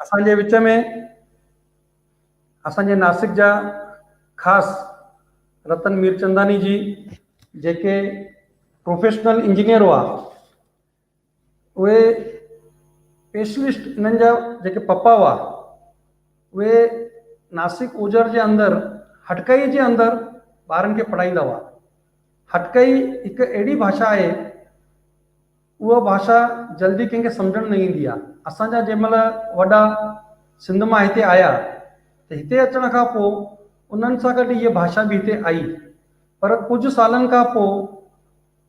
اسان جي وچ ۾ اسان جي ناسڪ جا خاص رتن ميرچنداني جي جيڪي پروفيشنل انجنيئر هئا اهي پيشلسٽ انهن جا جيڪي پپا هئا اهي ناسڪ اوجهر جي اندر هٽڪئي جي اندر ٻارن کي پڙهائيندا هئا هٽڪئي هڪ اهڙي ڀاشا آهي اها ڀاشا جلدي ڪنهن کي سمجهڻ نه ايندي آهي اسان جا جنهن مهل وڏا سنڌ مان هتي آيا ته هتي اچڻ کان پوء انهن سان گڏ هيء ڀاشا به هتي آئي پر ڪجهه سالن کان پوء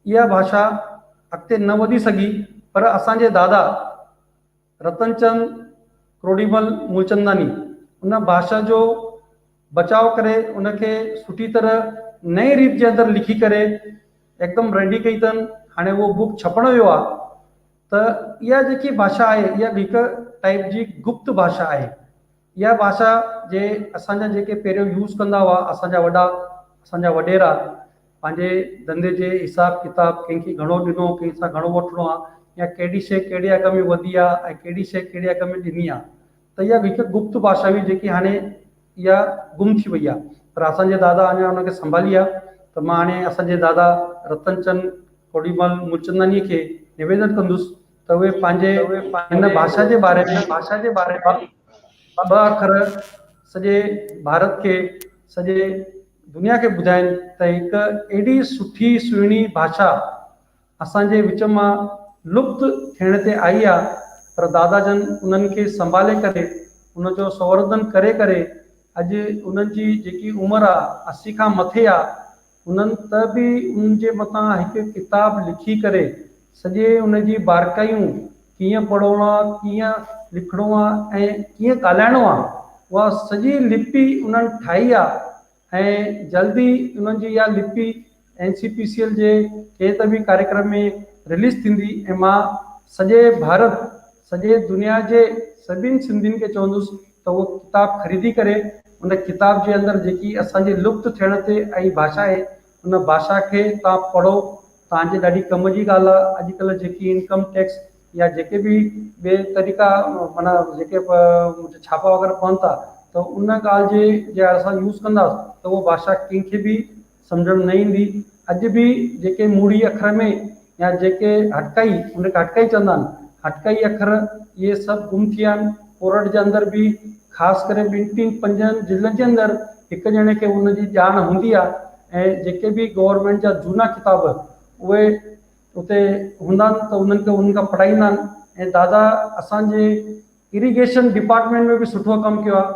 اها ڀاشا اڳتي نه وڌي سگهي پر اسان جي دادا رتنچند ڪروڏيمل مولچنداني ان ڀاشا جو بچاء ڪري ان کي سٺي طرح نئين ريت جي اندر لکي ڪري هڪدم ريڊي ڪئي اٿن هاڻي اهو بوڪ ڇپڻ ويو آهي ته اها جيڪي ڀاشا آهي اها هڪ ٽائيپ جي گپت ڀاشا آهي اها ڀاشا جي اسان جا جيڪي پهريون يوز ڪندا هئا اسان جا وڏا اسان جا وڏيرا پنهنجي ڌنڌي جي حساب ڪتاب ڪنهن کي گهڻو ڏنو ڪنهن سان گهڻو وٺڻو آ يا ڪهڙي شي ڪهڙي اگهه ۾ وڌي آ ۽ ڪهڙي شي ڪهڙي اگهه ۾ ڏني آ ته اها هڪ گپت ڀاشا هئي جيڪي هاڻي اها گم ٿي وئي آ پر اسان جي دادا اڃا ان کي سنڀالي آ ته مان هاڻي اسان جي دادا رتن چند ڪوڏيمل ملچندانيء کي نويدن ڪندس ته اهي پنهنجي هن ڀاشا جي باري ۾ ٻه اکر سڄي ڀارت کي سڄي دنيا کي ٻڌائين ته هڪ ايڏي سٺي سهڻي ڀاشا اسان جي وچ مان لپت ٿيڻ تي آئي آ پر دادا جن انهن کي سنڀالي ڪري ان جو سنوردن ڪري ڪري اڄ انهن جي جيڪي عمر آ اسي کان مٿي آ هنن ته به ان جي مٿان هڪ ڪتاب لکي ڪري سڄي ان جي بارڪايون ڪيئن پڙهڻو آ، ڪيئن لکڻو آ ۽ ڪيئن ڳالهائڻو آ، اها سڄي لپي انهن ٺاهي آ ۽ جلد ئي انهن جي اها لپي N C P C L جي ڪنهن ته به ڪاريڪرم ۾ رليز ٿيندي ۽ مان سڄي ڀارت سڄي دنيا جي سڀين سنڌين کي چوندس ته اهو ڪتاب خريدي ڪري ان ڪتاب جي اندر جيڪي اسان جي لپت ٿيڻ تي آئي ڀاشا آهي ان ڀاشا کي توهان پڙهو توهان جي ڏاڍي ڪم جي ڳالهه آهي اڄڪلهه جيڪي انڪم ٽيڪس يا جيڪي به ٻي طريقا معنيٰ جيڪي ڇاپا وغيره پون ٿا ته ان ڳالهه جي جي اسان يوز ڪنداس ته اهو ڀاشا ڪنهن کي به سمجهڻ نه ايندي. اڄ به جيڪي موڙي اکر ۾ يا جيڪي هٽڪائي، ان کي هٽڪائي چوندا آهن، هٽڪائي اکر، اهي سڀ گم ٿي ويا آهن. پورهئٽ جي اندر به خاص ڪري ٻن ٽن پنجن ضلعن جي اندر هڪ ڄڻي کي ان جي ڄاڻ هوندي آهي ۽ جيڪي به گورنمينٽ جا جهونا ڪتاب اهي اتي هوندا آهن ته انهن کي انهن کان پڙهائيندا آهن ۽ دادا اسان جي اريگيشن ڊپارٽمينٽ ۾ به سٺو ڪم ڪيو آهي.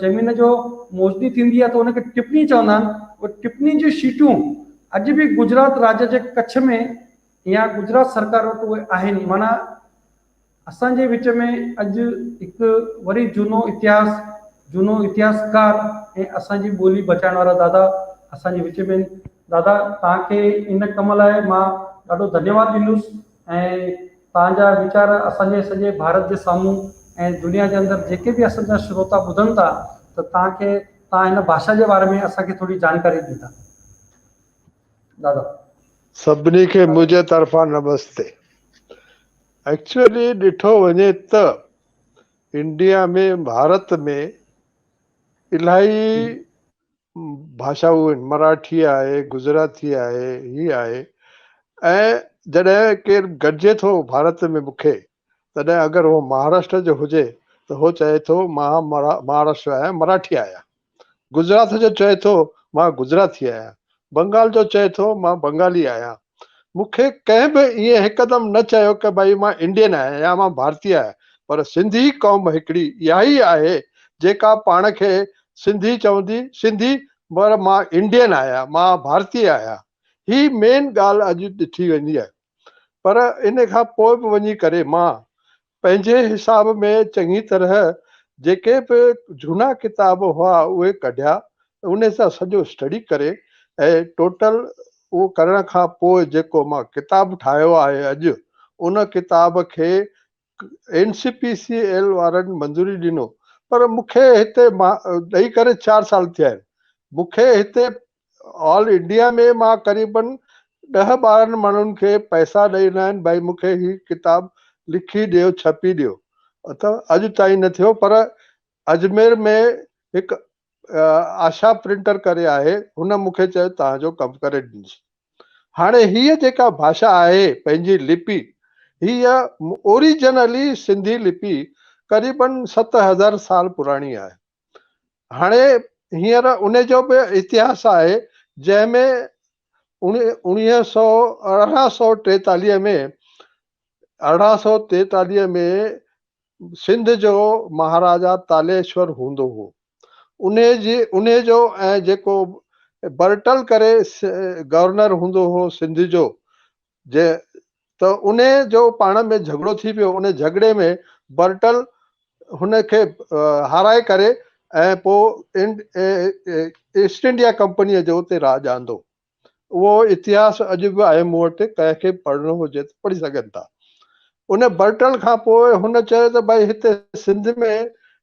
زمين جو موزني ٿيندي آهي ته ان کي ٽپني چوندا آهن، اهي ٽپني جون شيٽون اڄ به گجرات راڄ جي ڪڇ ۾ يا گجرات سرڪار وٽ اهي آهن معنيٰ اسان جي وچ ۾ اڄ هڪ وري جهونو اتهاس جهونو اتهاسڪار ۽ اسان جي ٻولي بچائڻ وارا دادا اسان جي وچ ۾ آهن دادا توهان کي ان ڪم لاء مان ڏاڍو ڌنيواد ڏيندس. ۽ توهان جا ويچار اسان جي سڄي ڀارت جي سامهون ۽ دنيا جي اندر جيڪي به اسان جا شروتا ٻڌن ٿا ته توهان کي توهان هن ڀاشا جي باري ۾ اسان کي ٿوري جانڪاري ڏيندا دادا. سڀني کي منهنجي طرفان نمستي. ايڪچوئلي ڏٺو وڃي ته انڊيا ۾ ڀارت ۾ الاهي ڀاشائون آهن، مراٺي آهي، گجراتي آهي، هي آهي ۽ جڏهن ڪير گڏجي ٿو ڀارت ۾ مون کي تڏهن اگر هو مهاراشٽر جو هجي ته هو چئي ٿو مان مهاراشٽر آهيان مراٺي آهيان، گجرات جو چئي ٿو مان گجراتي آهيان، بنگال جو چئي ٿو مان بنگالي آهيان، مون کي ڪنهن به ائين هڪدم نه چيو ڪه ڀئي مان انڊين آهيان يا مان ڀارتي آهيان پر سنڌي قوم هڪڙي اها ئي آهي جيڪا پاڻ کي سنڌي چوندي سنڌي پر مان انڊين آهيان مان ڀارتي آهيان هي مين ڳالهه اڄ ڏٺي ويندي آهي پر ان کان پوء به وڃي ڪري مان پنهنجي حساب ۾ چڱي طرح جيڪي به جهونا ڪتاب هئا اهي ڪڍيا ۽ انهي سان سڄو اسٽڊي ڪري ۽ ٽوٽل اهو ڪرڻ کان پوء جيڪو مان ڪتاب ٺاهيو آهي اڄ ان ڪتاب کي N C P C L وارن منظوري ڏنو پر مون کي هتي مان ڏئي ڪري چار سال ٿيا آهن مون کي هتي آل انڊيا ۾ مان قريبن ڏهه ٻارهن ماڻهن کي پئسا ڏئي ڏنا آهن ڀائي مون کي هي ڪتاب لکي ڏيو ڇپي ڏيو اٿو اڄ تائين نه ٿيو پر اجمير ۾ هڪ آشا پرنٽر ڪري آهي هن مون کي چيو توهان جو ڪم ڪري ڏنسي هاڻي هيء جيڪا ڀاشا آهي پنهنجي لپي هيء اوريجنلي سنڌي لپي قريبن ست هزار سال پراڻي آهي هاڻي هينئر ان جو به اتهاس آهي جنهن ۾ اڻويهه سؤ ارڙهن سؤ ٽيتاليهه ۾ ارڙهن سؤ ٽيتاليهه ۾ سنڌ جو مهاراجا تاليشور هوندو هو انهي جي انهي جو ۽ جيڪو برٽل ڪري گورنر هوندو هو سنڌ جو جي ته انهي جو پاڻ ۾ جهڳڙو ٿي پيو، انهي جهڳڙي ۾ برٽل هن کي هارائي ڪري ۽ پوء ايسٽ انڊيا ڪمپنيء جو اتي راڄ آندو. اهو اتهاس اڄ به آهي، مون وٽ ڪنهن کي پڙهڻو هجي ته پڙهي سگهن ٿا. ان برٽل کان پوء هن چيو ته ڀائي هتي سنڌ ۾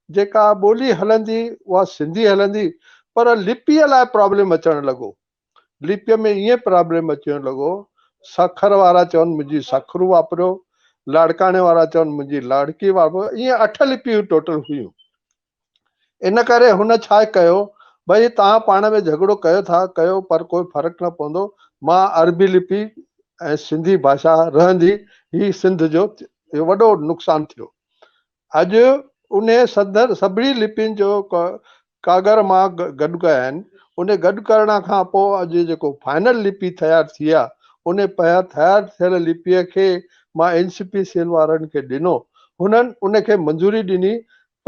جيڪا ٻولي هلندي اها سنڌي هلندي پر لپيء لاء پرابلم اچڻ لڳو ليپيء ۾ ائين پرابلم اچڻ لڳو، سکر وارا چون منهنجي سکرو واپريو، لاڙڪاڻي وارا چون منهنجي لاڙڪي واپريو، ائين اٺ ليپيون ٽوٽل هيون. ان ڪري هن ڇا ڪيو، ڀئي توهان پاڻ ۾ جهڳڙو ڪيو ٿا ڪيو پر ڪو فرق نه پوندو، مان عربي ليپي ۽ سنڌي ڀاشا رهندي هي سنڌ جو وڏو نقصان ٿيو. اڄ انهي سندن سڀني لپين جو ڪاڳر مان گڏ ڪيا آهن. انهي گڏ ڪرڻ کان پوء اڄ جيڪو فائنل لپي تيار ٿي آ، انهي پهريان تيار ٿيل لپيء کي مان اين سي پي سيل وارن کي ڏنو. هنن ان کي منظوري ڏني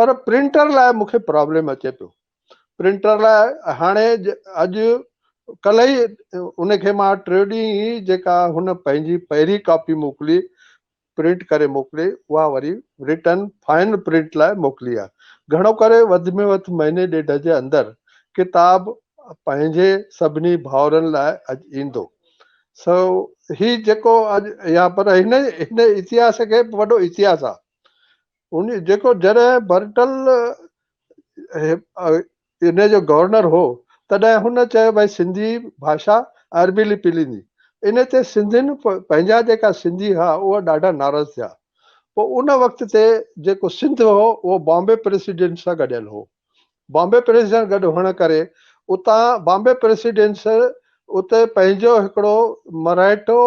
پر پرنٽر لاء مون کي پرابلم اچي پيو. پرنٽر لاء هاڻي اڄ ڪلهه ئي ان کي مان ٽيون ڏينهن ئي جيڪا هن پنهنجي پهرين ڪاپي موڪلي پرنٽ ڪري موڪلي اها وري رٽن فائنل پرنٽ لاء موڪلي آ. گهڻو ڪري وڌ ۾ وڌ مهيني ڏيڍ جي اندر ڪتاب پنهنجي سڀني ڀائرن لاء اڄ ايندو. سو هي جيڪو اڄ يا پر هن هن اتهاس کي به وڏو اتهاس آ. ان جيڪو جڏهن برٽل ان جو گورنر هو تڏهن هن چيو ڀائي سنڌي ڀاشا ۽ عربي لپي ليندي ان تي سنڌين پنهنجا جيڪا سنڌي ها اهي ڏاڍا ناراض ٿيا پوء ان وقت تي جيڪو سنڌ هو اهو بامبي پريسيڊنٽ سان گڏيل هو بامبي پريسيڊنٽ گڏ هئڻ ڪري اتان بامبي پريسيڊنٽس اتي پنهنجو هڪڙو مرهيٽو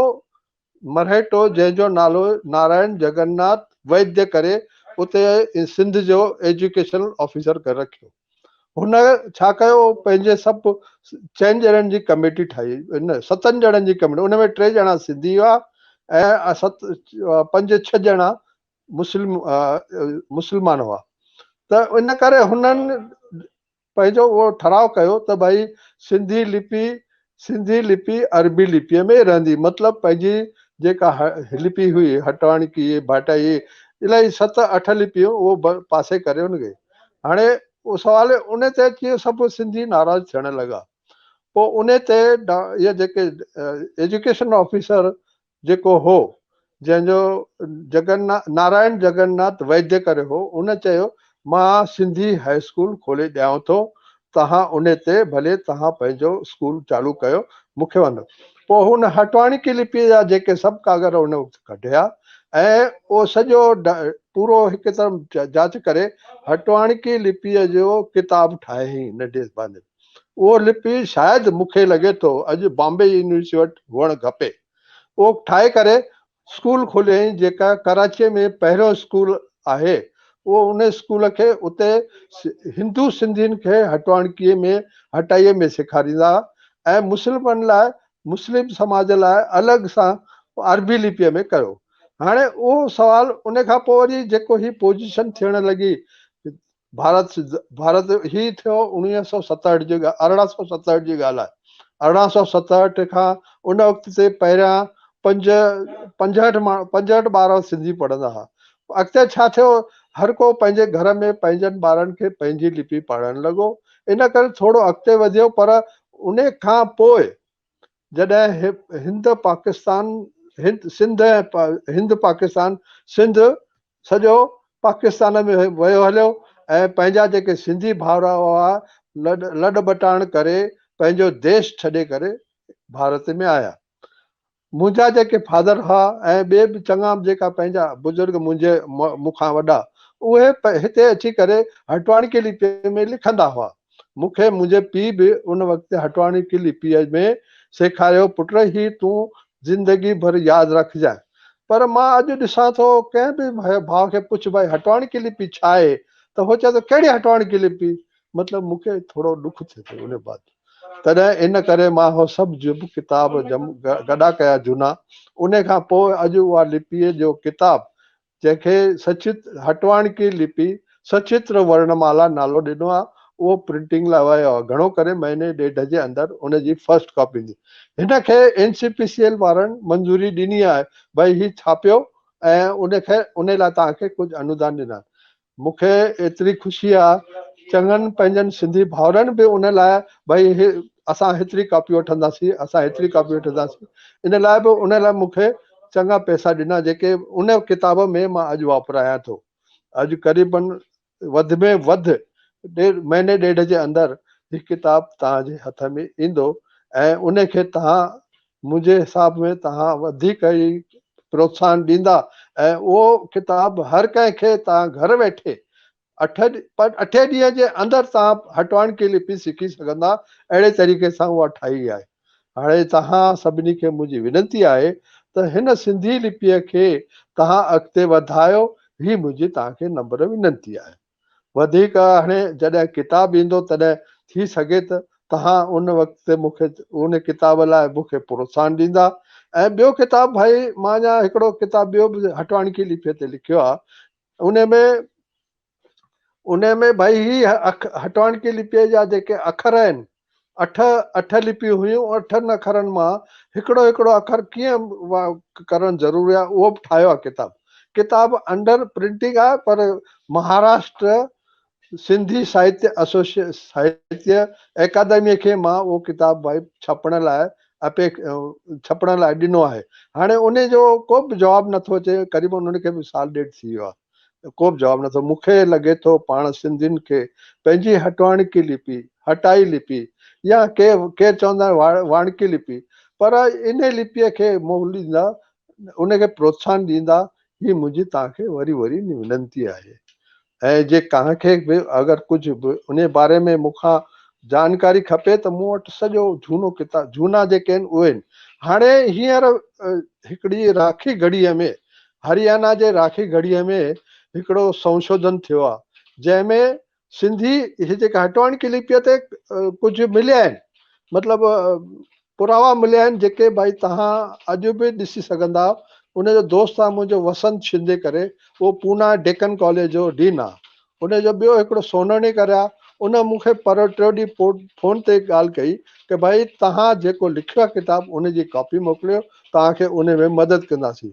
مرهٽو جنهن جو نالو نارائڻ جگناٿ ويديا ڪري اتي سنڌ جو ايجوڪيشن آفيسر ڪري رکيو هن ڇا ڪيو پنهنجي سڀ چئن ڄڻن جي ڪميٽي ٺاهي ستن ڄڻن جي ڪميٽي ان ۾ ٽي ڄڻا سنڌي هئا ۽ ست پنج ڇهه ڄڻا مسلم مسلمان هئا ته ان ڪري هنن پنهنجو اهو ٺهراء ڪيو ته ڀائي سنڌي لپي سنڌي لپي عربي لپيء ۾ ئي رهندي مطلب پنهنجي جيڪا لپي هئي هٽاڻڪي ڀاٽائي الائي ست اٺ لپيون اهو پاسي ڪري ان کي هاڻي سوال ان تي اچي سڀ سنڌي ناراض ٿيڻ لڳا پوء ان تي اهي جيڪي ايجوڪيشن آفيسر جيڪو هو، جنهن جو جگن نارائڻ جگن ناٿ ويديا ڪري هو، ان چيو، مان سنڌي هاء اسڪول کولي ڏيانو ٿو، توهان ان تي ڀلي توهان پنهنجو اسڪول چالو ڪيو، مون کي وندو. پوء هن هٽواڻڪي لپيء جا جيڪي سڀ ڪاڳر ان وقت ڪڍيا ۽ اهو سڄو پورو هڪ طرف جاچ ڪري هٽواڻڪي لپيء جو ڪتاب ٺاهيائين ننڍي زبان ۾. اهو لپي شايد مون کي لڳي ٿو اڄ بامبي يونيورسٽي وٽ هئڻ کپي. اهو ٺاهي ڪري اسڪول کوليائين جيڪا ڪراچيء ۾ پهريون اسڪول آهي. اهو ان اسڪول کي اتي هندو سنڌين کي هٽواڻڪيء ۾ هٽائيء ۾ سيکاريندا ۽ مسلمن لاء مسلم سماج لاء الڳ سان عربي لپيء ۾ ڪيو. هاڻي اهو سوال ان کان پوء وري جيڪو هي پوزيشن ٿيڻ لڳي ڀارت ڀارت هي ٿيو اڻويهه سؤ ستهٺ جي ارڙهن سؤ ستهٺ جي ڳالهه آهي ارڙهن سؤ ستهٺ کان ان وقت تي پهريان پنج پنجهٺ ماڻهو پنجهٺ ٻار سنڌي پڙهندا هئا اڳتي ڇا ٿيو هر ڪو پنهنجي گهر ۾ پنهنجن ٻارن کي پنهنجي لپي پڙهڻ لڳو ان ڪري ٿورو اڳتي وڌيو پر ان کان پوء جڏهن هند پاڪستان سنڌ ۽ هند پاڪستان سنڌ سڄو پاڪستان ۾ ويو هليو ۽ پنهنجا جيڪي سنڌي ڀائرا هئا لڏ ٻٽاڻ ڪري پنهنجو ديش ڇڏي ڪري ڀارت ۾ آيا منهنجا جيڪي فادر هئا ۽ ٻي به چڱا جيڪا پنهنجا بزرگ منهنجي مون کان وڏا اهي هتي اچي ڪري هٽواڻڪيلي پيء ۾ لکندا هئا مون کي منهنجي پيء به ان وقت هٽواڻي قلعي پيء ۾ سيکاريو، پٽ هي تون زندگي ڀر ياد رکجانء. پر مان اڄ ڏسان ٿو ڪنهن به ڀاء کي پڇ ڀائي هٽواڻي قلعي پيء ڇا آهي ته هو چوي ٿو ڪهڙي هٽواڻي قلعي پيء مطلب مون کي ٿورو ڏک ٿئي ٿو ان بعد تڏهن ان ڪري مان هو سڀ جب ڪتاب جم گڏا ڪيا جهونا انهي کان پوء اڄ اها لپيء جو ڪتاب جنهن کي سچت هٽواڻڪي لپي، سچتر ورڻمالا، نالو ڏنو آهي، اهو پرنٽنگ لاء ويو آهي، گهڻو ڪري مهيني ڏيڍ جي اندر ان جي فرسٽ ڪاپي ايندي. هن کي N C P C L وارن منظوري ڏني آهي، ڀئي هي ڇاپيو ۽ ان کي ان لاء توهان کي ڪجهه انودان ڏنا آهن. مون کي ايتري خوشي آ چڱن پنهنجن سنڌي ڀائرن به ان لاء ڀئي اسان هيتري ڪاپي وٺنداسين اسان هيتري ڪاپي وٺنداسين ان لاء به ان لاء مون کي چڱا پئسا ڏنا جيڪي ان ڪتاب ۾ مان اڄ واپرايان ٿو اڄ قريبن وڌ ۾ وڌ ڏيڍ مهيني ڏيڍ جي اندر هي ڪتاب توهان جي هٿ ۾ ايندو ۽ ان کي توهان منهنجي حساب ۾ توهان وڌيڪ ئي پروتساهن ڏيندا ۽ اهو ڪتاب هر ڪنهن کي توهان گهر ويٺي اٺين ڏينهن جي اندر توهان هٽوائڻ ڪي لپي سکي سگهندا اهڙي طريقي سان اها ٺاهي آهي هاڻي توهان سڀني کي منهنجي وينتي آهي ته هن سنڌي لپيء کي توهان اڳتي وڌايو هي منهنجي توهان کي نمبر وينتي آهي. وڌيڪ هاڻي جڏهن ڪتاب ايندو تڏهن ٿي سگهي ته توهان ان وقت تي مون کي ان ڪتاب لاء مون کي پروتساهن ڏيندا ۽ ٻيو ڪتاب ڀائي مان اڃا هڪڙو ڪتاب ٻيو به هٽواڻي کي ليپي تي لکيو آهي ان ۾ ان ۾ ڀائي هي هٽواڻڪي لپيء جا جيڪي اکر آهن اٺ اٺ لپيون هيون، اٺن اکرن مان هڪڙو هڪڙو اکر ڪيئن ڪرڻ ضروري آهي اهو به ٺاهيو آهي ڪتاب. ڪتاب انڊر پرنٽنگ آهي پر مهاراشٽر سنڌي ساهتيه ايسوسي ساهتيه اڪادميء کي مان اهو ڪتاب ڀائي ڇپڻ لاء ڇپڻ لاء ڏنو آهي. هاڻي انهي جو ڪو به جواب نٿو اچي قريبن انهن کي به سال ڏيڍ ٿي ويو آهي. ته ڪوبه جواب نه اٿو. مون کي لڳي ٿو پاڻ سنڌين کي پنهنجي هٽواڻڪي لپي، هٽائي لپي، يا ڪي ڪير چوندا آهن واڻڪي لپي، پر انهي لپيء کي موليندا، ان کي پروتساهن ڏيندا، هي منهنجي توهان کي وري وري ونتي آهي. ۽ جي ڪنهن کي به اگر ڪجهه به انهي باري ۾ مون کان جانڪاري کپي ته مون وٽ سڄو جهونو ڪتاب جهونا جيڪي آهن اهي آهن. هاڻي هينئر هڪڙي راکي گهڙيء ۾ هريانا جي راکي گهڙي ۾ هڪڙو سنشوڌن ٿيو آهي جنهن ۾ سنڌي هي جيڪا هٽوانڪي لپيء تي ڪجهه مليا آهن مطلب پراوا مليا آهن جيڪي ڀائي تهان اڄ به ڏسي سگهندا ان جو دوست آهي منهنجو وسند شندي ڪري اهو پونا ڊيڪن ڪاليج جو ڊين آهي هن جو ٻيو هڪڙو سونهڻي گهر آ، ان مون کي پرهه ٽيو ڏينهن پوء فون تي ڳالهه ڪئي ته ڀائي توهان جيڪو لکيو آ ڪتاب ان جي ڪاپي موڪليو توهان کي ان ۾ مدد ڪنداسين.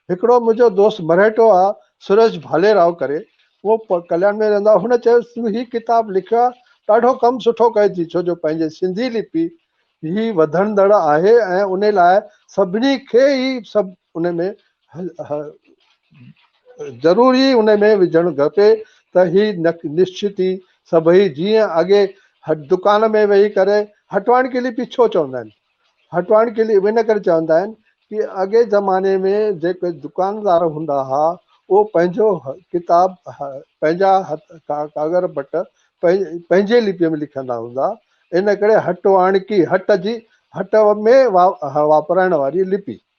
هڪڙو منهنجو دوست مرهيٽو آ سريش ڀالي راء ڪري، اهو ڪليان ۾ رهندو آ، هن چيو تون هي ڪتاب لکيو آ، ڏاڍو ڪم سٺو ڪيو ٿي ڇو جو پنهنجي سنڌي لپي هي وڌندڙ آهي ۽ ان لاء سڀني کي ئي سڀ ان ۾ ضروري ان ۾ وجهڻ کپي ته هي نشچتي سڀئي جيئن اڳي دڪان ۾ ويهي ڪري هٽوائڻ ڪلي پي ڇو چوندا آهن هٽوائڻ ڪلي ان ڪري چوندا آهن ڪي اڳي زماني ۾ جيڪي دڪاندار هوندا ها اهو پنهنجو ڪتاب پنهنجا ڪاغر بٽ پنهنجي لپي ۾ لکندا هوندا ان ڪري هٽوائڻ ڪي هٽ جي هٽ ۾ واپرائڻ واري لپي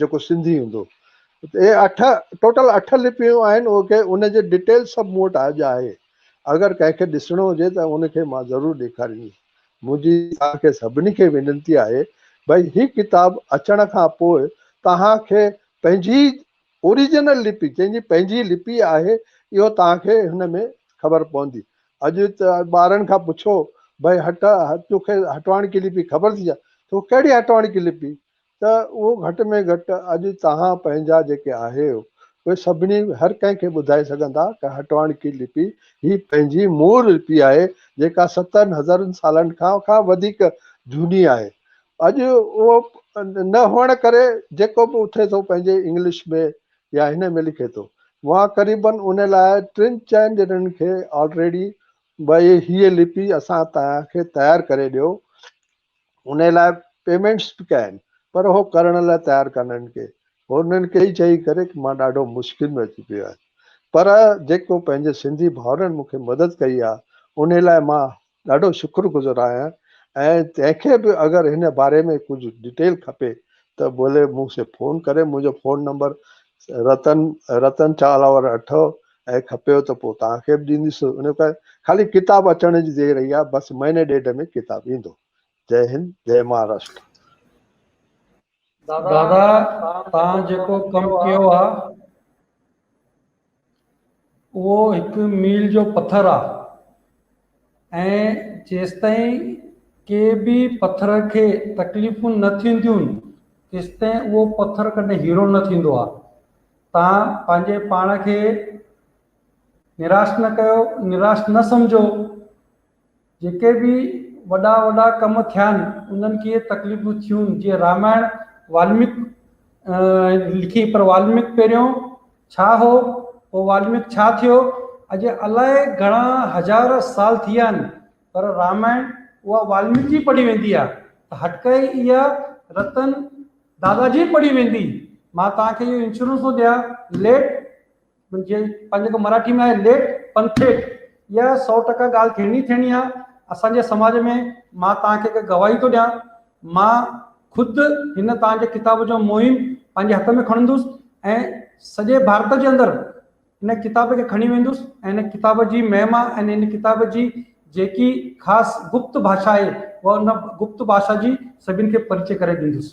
جيڪو سنڌي هوندو. اهي اٺ ٽوٽل اٺ لپيون آهن اهو کي ان جي ڊيٽيل سڀ مون وٽ اڄ آهي اگر ڪنهن کي ڏسڻو هجي ته ان کي مان ضرور ڏيکاريندس منهنجي توهان کي سڀني کي وينتي آهي ڀئي هي ڪتاب اچڻ کان پوء توهان کي پنهنجي اوريجنل لپي جنهن جي پنهنجي لپي آهي اهو توهان کي هن ۾ خبر پوندي اڄ ٻارن کان پڇو ڀئي هٽ توکي هٽواڻڪي لپي خبر ٿي ڇا تو ڪهڙي هٽواڻڪي لپي ته اهو گهٽ ۾ گهٽ اڄ توهان پنهنجا جيڪي آهيو اهي سڀني هر ڪنهن کي ٻڌائي سگهندا ته هٽواڻڪي لپي هي پنهنجي مور لپي آهي جيڪا ستن هزارن سالن کان کان وڌيڪ جهوني آهي اڄ اهو نه هئڻ ڪري جيڪو به اٿي ٿو پنهنجي انگلش ۾ يا هن ۾ لکي ٿو وهان قريبن ان لاء ٽن چئن ڄڻن کي آلريڊي بئي هيء لپي اسان توهان کي تيار ڪري ڏيو انهي لاء پيمينٽس به ڪيا آهن پر هو ڪرڻ لاء تيار ڪانهن ڪي هونئن ڪيئي چئي ڪري ڪي مان ڏاڍو مشڪل ۾ اچي پيو آهيان پر جيڪو پنهنجي سنڌي ڀائرن مون کي مدد ڪئي آهي انهي لاء مان ڏاڍو شڪر گذر آهيان ۽ تنهن کي به اگر هن باري ۾ ڪجهه ڊيٽيل کپي ته ڀلي مون سي فون ڪري منهنجو فون نمبر رتن رتن چالاور اٺ ۽ کپيو ته پوء توهان کي به ڏيندس. ان ڪري خالي ڪتاب اچڻ جي دير رهي آهي، بس مهيني ڏيڍ ۾ ڪتاب ايندو. جئي هند، جئي مهاراشٽر. دادا توهان جيڪو ڪم ڪيو آ اهو هڪ ميل جو پٿر آ ۽ جيستائين ڪي به پٿر کي تڪليفون نه ٿينديون تيستائين اهو پٿر ڪڏهن هيرو نه ٿيندو آهي. توهان پنهنجي پاڻ کي نراش نه ڪيو، نراش نه سمجهو. جيڪي به وڏا وڏا ڪم ٿيا آهن انهن کي تڪليفون ٿيون جيئن رامائڻ والميڪ لکي پر والميڪ پهريون ڇا هو؟ پوء والميڪ ڇا ٿيو؟ اڄ الائي گهڻا هزار سال ٿي ويا آهن، پر رامائڻ اها والميڪ جي پڙهي ويندي آهي ته هٽڪائي اها رتن دادا جي پڙهي ويندي. مان توهان کي اهو انشورنس ٿو ڏيان، ليٽ جي پنهنجي جيڪو مراٺي ۾ آهي ليٽ پن ٿيٽ، اها سؤ ٽڪا ڳالهه ٿيڻي ئي ٿيڻي آهي. اسان جي سماج ۾ مان توهان کي هڪ گواهي ٿو ڏيان. مان خود هن توهان جي ڪتاب جو مهم پنهنجي هٿ ۾ کڻندس ۽ سڄي ڀارت جي اندر ان ڪتاب کي کڻي ويندس ۽ ان ڪتاب جي مهما ۽ ان ڪتاب جي جيڪي خاص گپت ڀاشا آهي اها ان گپت ڀاشا جي سڀن کي پرچي ڪري ڏيندس